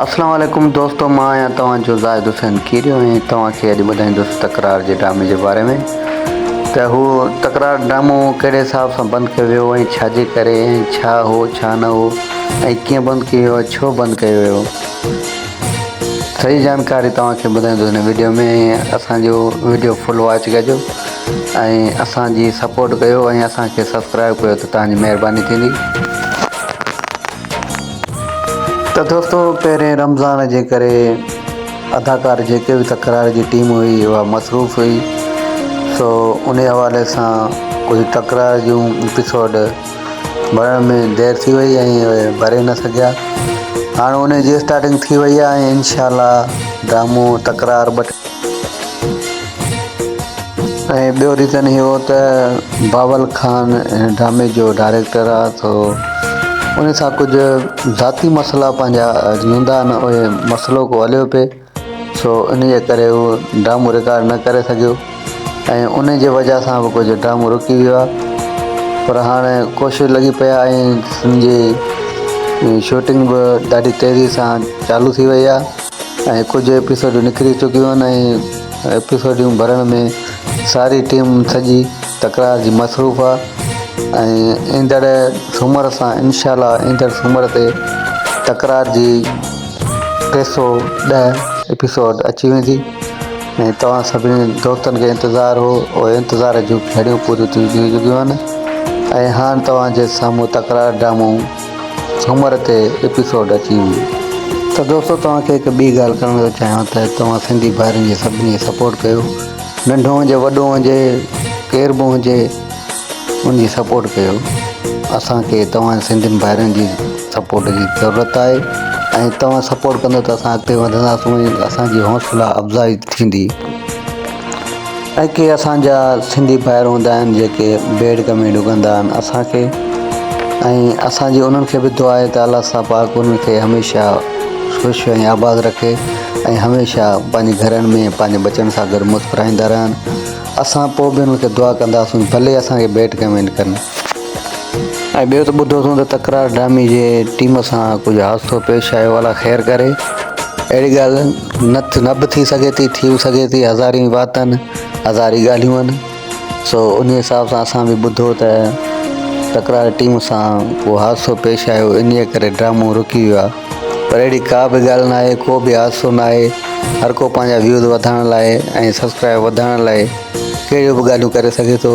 اسلام عليڪم دوستو مان آهيان توهان جو زاهد حسين کيريو ۽ توهان کي اڄ ٻڌائيندس تڪرار جي ڊرامي جي باري ۾ ته هو تڪرار ڊرامو ڪهڙي حساب سان بند ڪيو ويو ۽ ڇا جي ڪري ۽ ڇا هو ڇا نه هو ۽ ڪيئن بند ڪيو ويو ڇو بند ڪيو ويو سڄي جانڪاري توهان کي ٻڌائيندس هن ويڊيو ۾ اسان جو ويڊيو فل واچ ڪجو ۽ اسان جي سپورٽ ڪيو ۽ اسان کي سبسڪرائب ڪيو ته توهان جي مهرباني ٿيندي ته دوستو پهرين رمضان جي ڪري اداڪار جيڪي به تڪرار جي ٽيم هئي اها مصروف هئي سو انهي حوالي سان ڪجهه تڪرار جون ايپيسوڊ ڀرڻ ۾ دير ٿي وئي ۽ ڀري نه سگهيا هاڻ انهي جي اسٽارٽنگ ٿي وئي آهي انشاء الله ڊرامو تڪرار ٻه ۽ ٻيو ريزن هي هو ته باول خان هن ڊرامي جو ڊائريڪٽر آ سو ان سان ڪجهه ذاتي مسئلا پنهنجا هوندا آهن اهي مسئلو ڪو هليو پئي سو ان جي ڪري هو ڊرامو رڪارڊ نه ڪري سگهيو ۽ ان جي وجهه سان به ڪجهه ڊرامو رڪي ويو آ پر هاڻي ڪوشش لڳي پئي آ ۽ سنڌ جي شوٽنگ به ڏاڍي تيزي سان چالو ٿي وئي آ ۽ ڪجهه ايپيسوڊون نڪري چڪيون آهن ۽ ايپيسوڊون ڀرڻ ۾ ساري ٽيم سڄي تڪرار جي مصروف آهي ۽ ايندڙ سومر سان انشاء الله ايندڙ سومر تي تڪرار جي ٽي سؤ ڏهه ايپيسوڊ اچي ويندي ۽ توهان سڀني دوستن کي انتظار هو اهي انتظار جون گهڙيون پوريون ٿي چڪيون آهن ۽ هاڻ توهان جي سامهون تڪرار ڊرامو سومر تي ايپيسوڊ اچي ويندي. ته دوستو توهان کي هڪ ٻي ڳالهه ڪرڻ ٿو چاهيان ته توهان سنڌي ڀائرن جي سڀني کي سپورٽ ڪيو ننڍو هجي وڏو هجي ڪير به هجي ان جي سپورٽ ڪيو اسان کي توهان سنڌين ڀائرن جي سپورٽ جي ضرورت آهي ۽ توهان سپورٽ ڪندو ته اسان اڳتي وڌنداسون ۽ اسان جي حوصلا افزائي ٿيندي. ۽ ڪي اسان جا سنڌي ڀائر هوندا آهن جيڪي بيڊڪ ۾ ڊگهندا آهن اسان کي ۽ اسان جي انهن کي به دعا آهي ته الله سان پاڪ انهن کي هميشه خوش ۽ آباد رکي ۽ هميشه پنهنجي گهرن ۾ پنهنجي ٻچن سان گڏ مسڪرائيندا رهن اسان پوء به انهن کي دعا ڪنداسون ڀلي اسان کي بيڊڪ ۾ ڏڪن. ۽ ٻيو ته ٻڌو اٿون ته تڪرار ڊرامي جي ٽيم سان ڪجهه حادثو پيش آيو الا خير ڪري اهڙي ڳالهه نه نه به ٿي سگهي ٿي ٿي به سگهي ٿي هزارين واتن هزاري ڳالهيون آهن سو ان حساب سان اسان به ٻڌو ته تڪرار ٽيم سان ڪو حادثو پيش آيو انهيء ڪري ڊرامو رڪي ويو آهي پر اهڙي ڪا به ڳالهه نه آهي ڪو به حادثو نه آهي هر ڪو پنهنجا ويوز وڌائڻ لاء ۽ سبسڪرائب وڌائڻ لاء ڪهڙيون به ڳالهيون ڪري سگهي ٿو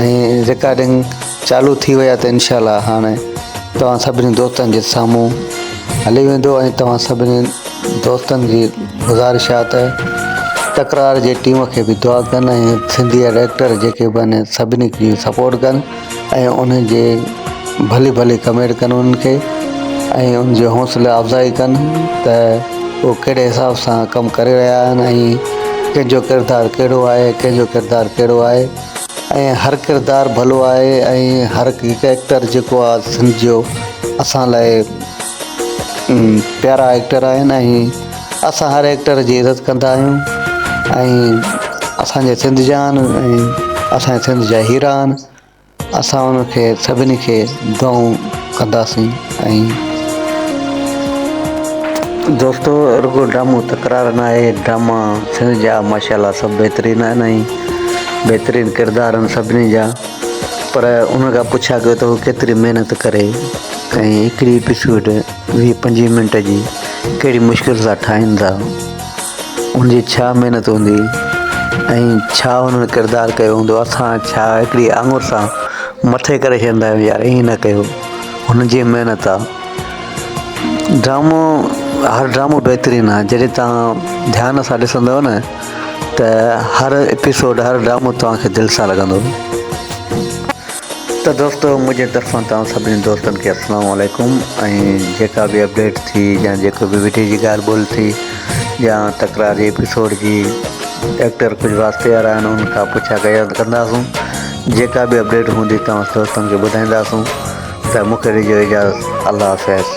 ۽ رڪارڊنگ چالو ٿي وئي آهي ته انشاء الله هاڻ توهان سڀني دوستن جي سامهون هلي ويندو ۽ توهان سڀني دوستن جي گذارش آهي ته تڪرار جي ٽيم کي به دعا ڪن ۽ سنڌي جا ڊائريڪٽر جيڪي به آهن سڀني کي سپورٽ ڪن ۽ انهن جي ڀلي ڀلي ڪمينٽ ڪن انهن کي ۽ ان جي حوصله افزائي ڪن ته هو ڪهڙي حساب سان ڪم ڪري رهيا آهن ۽ ڪنهن جو ڪردار ڪهڙو آهي ڪنهن جو ڪردار ڪهڙو آهي ۽ هر ڪردار ڀلو آهي ۽ هر هڪ ايڪٽر جيڪو آهي سنڌ جو اسان لاء پيارا ايڪٽر آهن ۽ اسان هر ايڪٽر جي عزت ڪندا آهيون ۽ اسان جي سنڌ جان ۽ اسان جي سنڌ جا هيرا آهن اسان انهن کي سڀني کي دعائون ڪنداسين ۽. دوستو رڳو ڊرامو تڪرار ناهي ڊراما سنڌ جا ماشاء الله سڀ بهترين آهن ۽ بهترين ڪردار آهن سڀني جا پر انهن کان پڇا ڪيو ته هو ڪيتري محنت ڪري ۽ هڪڙي ايپيسوڊ ويهه پنجويهه منٽ جي ڪهڙي مشڪل سان ٺاهين ٿا ان جي ڇا محنت هوندي ۽ ڇا انهن ڪردار ڪيو هوندو اسان ڇا هڪڙي آڱر سان مٿي ڪري ڇڏيندا آهيون يار ائين نه ڪيو هن جي محنت آ ڊرامو هر ڊرامو بهترين آ جڏهن تان ڌيان سان ڏسندو نه ته هر ايپيسوڊ هر ڊرامو توهان کي دل سان لڳندو ته دوستو منهنجي طرفان توهان سڀني دوستن کي السلام عليڪم ۽ جيڪا به اپڊيٽ ٿي يا جيڪو به وڊيو جي ڳالهه ٻولهه ٿي يا تڪرار جي ايپيسوڊ جي ڊاڪٽر ڪجهه واسطي وارا آهن ان کان پڇا ڪيا ڪنداسون جيڪا به اپڊيٽ هوندي توهان دوستن کي ٻڌائينداسون ته مون کي ڏجو اجازت الله حافظ